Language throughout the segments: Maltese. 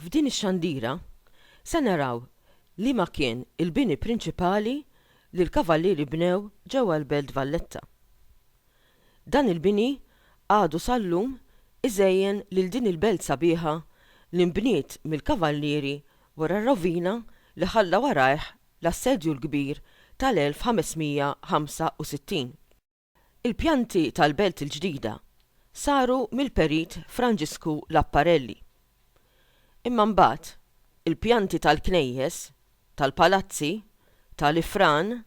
F'din ix-xandira se naraw liema kien il-bini prinċipali li l-Kavallieri bnew ġewwa l-Belt Valletta. Dan il-bini għadu sal-lum iżejjen lil din il-belt sabiħa li nbniet mill-Kavallieri wara r-rovina li ħalla warajh l-Assedju l-Kbir tal-1565. Il-pjanti tal-belt il-ġdida saru mill-Perit Franġisku Lapparelli. Imma mbagħad il-pjanti tal-knejjes, tal-palazzi, tal-ifran,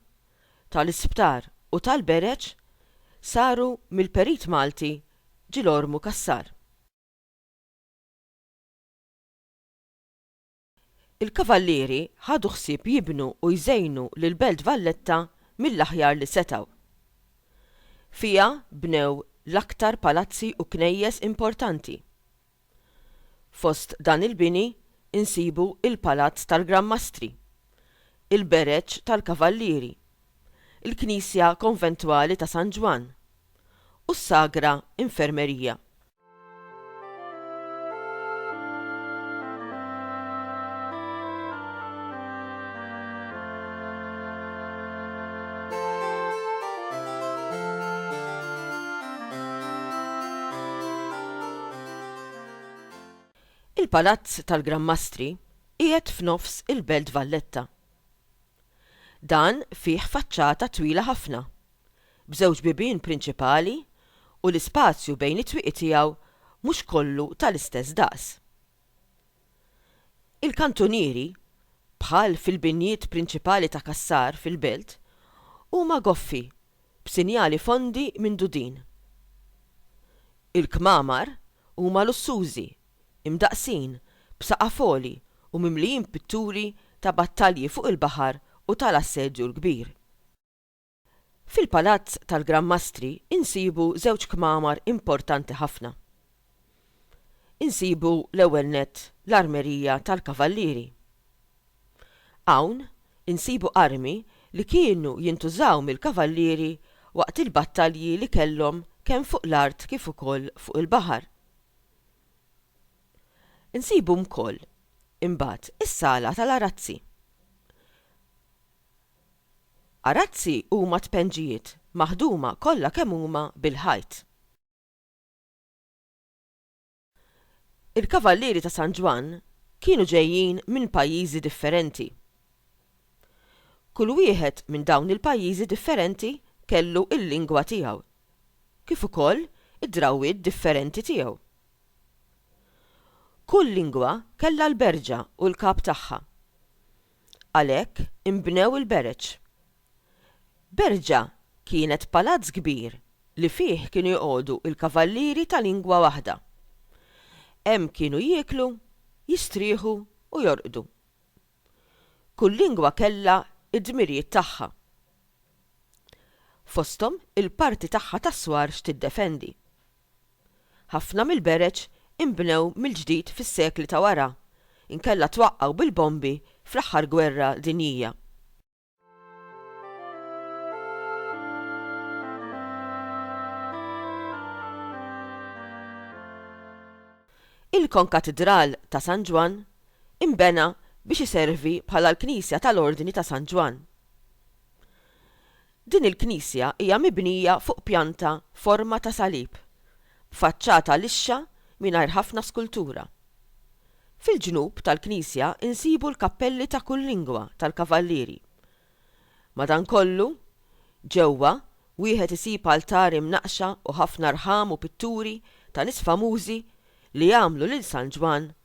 tal-isptar u tal-bereġ saru mill-perit Malti Ġilormu Cassar. Il-Kavallieri ħadu ħsieb jibnu u jżejnu lill-Belt Valletta mill-aħjar li setgħu. Fiha bnew l-aktar palazzi u knejjes importanti, Fost dan il-bini nsibu il-Palazz tal-Gran Mastri, il-Bereġ tal-Kavallieri, il-Knisja Konventwali ta' San Ġwann u s-Sagra Infermerija. Il-Palazz tal-Gran Mastri qiegħed f'nofs il-Belt Valletta. Dan fih faċċata twila ħafna, b'żewġ bibien prinċipali u l-ispazju bejn it-twieqi tiegħu mhux kollu tal-istess daqs. Il-kantunieri, bħal fil-binjiet prinċipali ta' Cassar fil-Belt, huma goffi b'sinjali fondi minn dudin. Il-kmamar huma lussużi, imdaqqsin b'saqaf għoli u mimlijin pitturi ta' battalji fuq il-baħar u tal-Assedju l-Kbir. Fil-Palazz tal-Gran Mastri insibu żewġ kmamar importanti ħafna. Insibu l-ewwel nett l-armerija tal-kavallieri. Hawn insibu armi li kienu jintużaw mill-kavallieri waqt il-battalji li kellhom kemm fuq l-art kif ukoll fuq il-baħar. Insibu wkoll imbagħad is-sala tal-arazzi. Arazzi huma tpendġijiet maħduma kollha kemm huma bil-ħajt. Il-Kavallieri ta' San Ġwann kienu ġejjin minn pajjiżi differenti. Kull wieħed minn dawn il-pajjiżi differenti kellu l-lingwa tiegħu, kif ukoll id-drawwiet differenti tiegħu. Kull lingwa kellha l-berġa u l-kap tagħha. Għalhekk inbnew il-Bereġ. Berġa kienet palazz kbir li fih kienu joqogħdu l-kavallieri ta' lingwa waħda. Hemm kienu jieklu, jistrieħu u jorqdu. Kull lingwa kellha d-dmirijiet tagħha. Fosthom il-parti tagħha tas-swar x'tiddefendi. Ħafna mill-bereġ inbnew mill-ġdid fis-sekli ta' wara, inkella twaqqgħu bil-bombi fl-aħħar gwerra dinjija. Il-Konkatidral ta' San Ġwann inbena biex iservi bħala l-knisja tal-Ordni ta' San Ġwann. Din il-knisja hija mibnija fuq pjanta forma ta' salib, b'faċċata lixxa mingħajr ħafna skultura. Fil-ġnub tal-knisja nsibu l-kappelli ta' kull lingwa tal-Kavallieri. Madankollu, ġewwa, wieħed isib altari mnaqqxa u ħafna rħam u pitturi ta' nies famużi li għamlu lil San Ġwann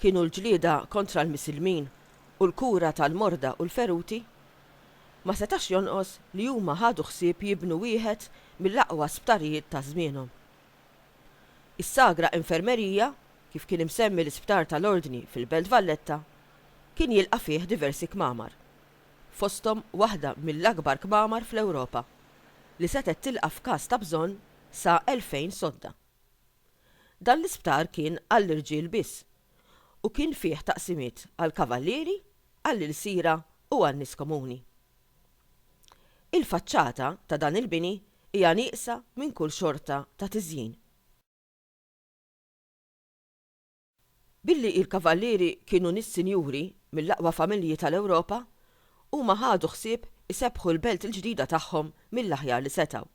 Kienu l-ġlieda kontra l-misilmin u l-kura tal-morda u l-feruti. Ma setax jonqos li huma ħadu ħsieb jibnu wieħed mill-aqwa sptarijiet ta' żmienhom. Is-Sagra Infermeria, kif kien imsemmi l-isptar tal-Ordni fil-Belt Valletta, kien jilqa' fih diversi kmamar, fosthom waħda mill-akbar kmamar fl-Ewropa, li setgħet tilqa' f'każ ta' bżonn sa 2,000 sodda. Dan l-isptar kien għall-irġiel biss u kien fih taqsimiet għall-kavallieri, għall-ilsiera u għan-nies komuni. Il-faċċata ta' dan il-bini hija nieqsa minn kull xorta ta' tiżjin. Billi il-Kavallieri kienu nies sinjuri mill-aqwa familji tal-Ewropa, huma ħadu ħsieb isebbħu l-belt il-ġdida tagħhom mill-aħjar li setgħu.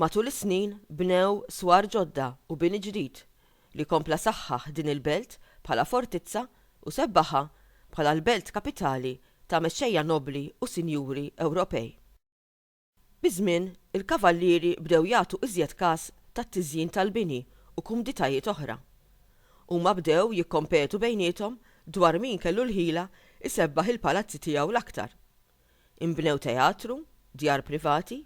Matul is-snin bnew swar ġodda u bini ġdid li kompla saħħaħ din il-belt bħala fortizza u sebbaħha bħala l-belt kapitali ta' mexxejja nobbli u sinjuri Ewropej. Biż-żmien, il-kavallieri bdew jagħtu iżjed kas tat-tiżjin tal-bini u kumditajiet oħra. Huma bdew jikkompetu bejniethom dwar min kellu l-ħila jsebbaħ il-palazzi tiegħu l-aktar. Inbnew teatru, djar privati,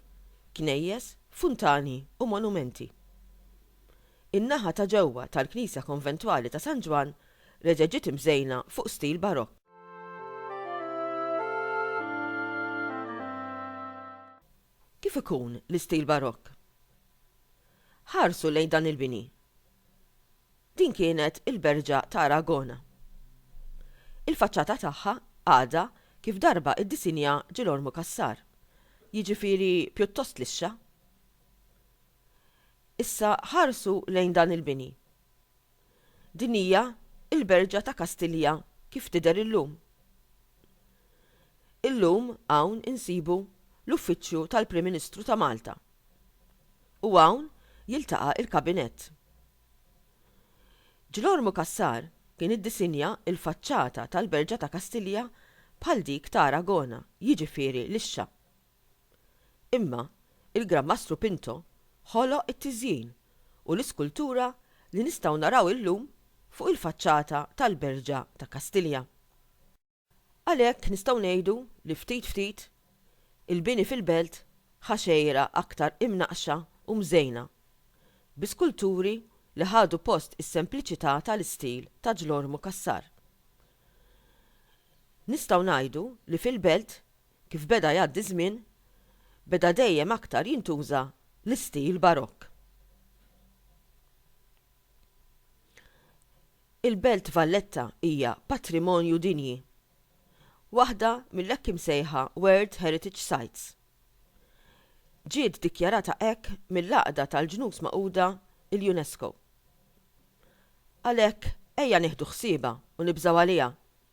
knejjes, funtani u monumenti. In-naħa ta' ġewwa tal-knisja konventwali ta' San Ġwann reġgħet ġiet imżejna fuq stil Barokk. Kif ikun l-istil Barokk? Ħarsu lejn dan il-bini. Din kienet il-Berġa ta' Aragona. Il-faċċata tagħha għadha kif darba iddisinja Ġilormu Cassar, jiġifieri pjuttost lixxa. Issa ħarsu lejn dan il-bini. Din hija l-Berġa ta' Kastilja kif tidher illum. Illum hawn insibu l-Uffiċċju tal-Prim Ministru ta' Malta u hawn jiltaqa' l-Kabinett. Ġlormu Cassar kien iddisinja l-faċċata tal-Berġa ta' Kastilja bħal dik ta' Aragona, jiġifieri lixxa. Imma il-Gran Mastru Pinto ħoloq it-tiżjin u l-iskultura li nistgħu naraw illum fuq il-faċċata tal-Berġa ta' Kastilja. Għalhekk nistgħu ngħidu li ftit ftit, il-bini fil-Belt ħa xejra aktar imnaqqxa u mżejna bi skulturi li ħadu post is-sempliċità tal-istil ta' Ġlormu Cassar. Nistgħu ngħidu li fil-Belt Kif beda jgħaddi ż-żmien, beda dejjem aktar jintuża l-istil Barokk. Il-Belt Valletta hija patrimonju dinji, waħda mill-hekk imsejħa World Heritage Sites. Ġiet dikjarata hekk mill-Għaqda tal-Ġnus Magħquda, il-UNESCO. Għalhekk ejja nieħdu ħsiebha u nibżgħu għaliha.